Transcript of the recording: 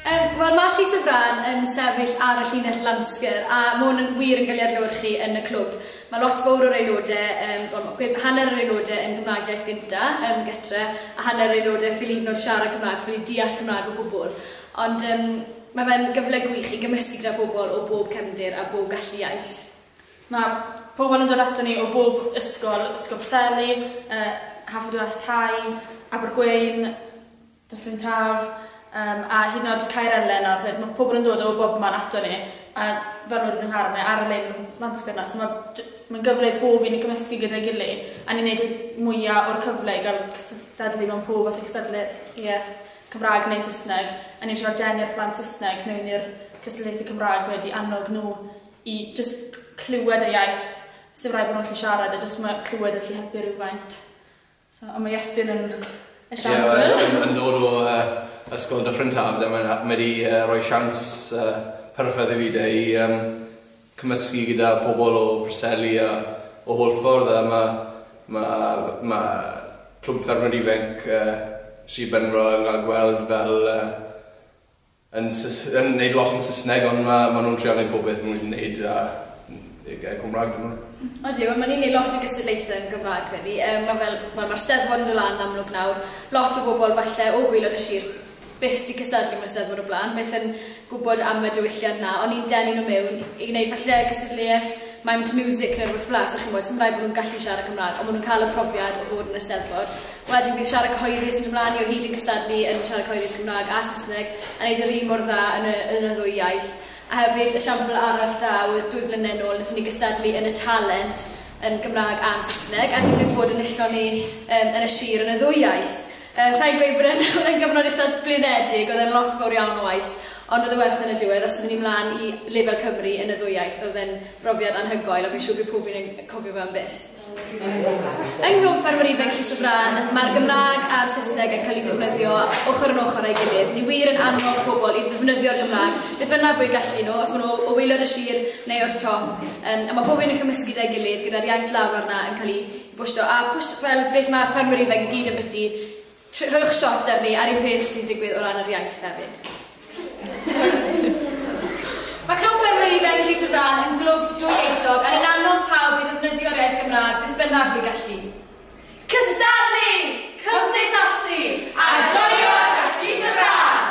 Yym, wel mae Llys y Frân yn sefyll ar y llinell Lanskr a mae hwn yn wir yn cael ei adlewyrchu yn y clwb. Mae lot fowr o'r aelodau, yym, wel mae gwe- hanner yr aelodau yn Gymraeg iaith gynta, yn gytre, a hanner yr aelodau ffili hyd yn oed siarad Cymraeg, ffili deall Cymraeg o gwbl. Ond yym, mae fe'n gyfle gwych i gymysgu gyda phobl o bob cefndir a bob gallu iaith. Mae pobl yn dod aton ni o bob ysgol, Ysgol Preseli, yy Haverfordwest High, Abergweun, Dyffryn Taf yym a hyd yn o'd Caerelen a phe- ma' pobol yn dod o bobman ato ni a fel wedwch yn nghardd mae ar lein m- Nant Gwrna so ma' j- ma'n gyfle i pob un i cymysgu gyda'i gily a ni'n neud y mwya o'r cyfle i ga'l cystadlu mewn pob fath o cystadleuaeth Cymra'g neu Sysneg a ni'n trio denu'r plant Sysneg mewn i'r cystadleuaethe Cymra'g wedyn i annog n'w i jyst clywed y iaith sim raid bo' n'w allu siarad e jyst ma' clywed e allu helpu rywfaint. So, ond ma' Iestyn yn esiampl. Ie, yn yn dod o yy ysgol Dyffryn Taf ble mae'n a- mae di yy roi siawns yy perffaith i fi de i yym cymysgu gyda pobl o Preseli a o holl ffordd a ma' ma' ma' Clwb Ffermio Di Fenc yy Sir Benfro yn ga'l gweld fel yy yn sys- yn neud lot yn sysneg ond ma ma nhw'n trial neud popeth ma nhw wedi neud a yy gair cymraeg dyn nhw. Odi wel ma ni'n neud lot o gystadlaethe yn gymraeg rili yy ma fel wel ma'r steddfod yn do lan yn amlwg nawr lot o bobol falle o gwylod y sir byth di cystadlu mewn steddfod o bla'n byth yn gwbod am y diwylliant na on ni'n denu nhw mewn i gneud falle gystadleuaeth maimt miwsic ne rwbeth fela so chi'n gwbod sim raid bo nhw'n gallu siarad cymraeg on ma nhw'n ca'l y profiad o fod yn y steddfod Wedyn bydd siarad cyhoeddus yn dod mlaen ni o hyd yn cystadlu yn siarad cyhoeddus Cymraeg a Saesneg a wneud yr un mor dda yn y, yn y ddwy iaith. A hefyd, esiampl arall da oedd dwy flynedd yn ôl, wnaethon ni gystadlu yn y Talent yn Gymraeg a'n Saesneg a digwydd bod enillon ni um, yn y sir yn y ddwy iaith. Uh, Sa'n gweud bod e'n oedd e'n gyfnod eitha blinedig, oedd e'n lot fawr iawn o waith, ond oedd y werth yn y diwedd, os ydyn ni mlaen i lefel Cymru yn y ddwy iaith, oedd e'n brofiad anhygoel, a fi'n siŵr bydd pob un yn cofio fe am byth. Yng Nghlwb Ffermwr Ifanc Llys y Frân, mae'r Gymraeg a'r Saesneg yn cael eu defnyddio ochr yn ochr â'i gilydd. Ni wir yn annog pobl i ddefnyddio'r Gymraeg, beth bynnag fo'u gallu nhw, os maen nhw o waelod y sir neu o'r top, yym a mae pob un yn cymysgu 'da'i gilydd gyda'r iaith lafar 'na yn cael ei bwshio a pwsh- fel beth ma' ffermwyr ifanc i gyd yn biti, Rhowch shot ar fi ar un peth sy'n digwydd o ran yr iaith hefyd. Mae Clwb Gwenwyr Ifanc Llys y Frân yn glwb dwyieithog a ni'n annog pawb i ddefnyddio'r iaith Gymraeg beth bynnag fu gallu. Cystadlu! Cymdeithasu! A joio gyda Llys y Frân!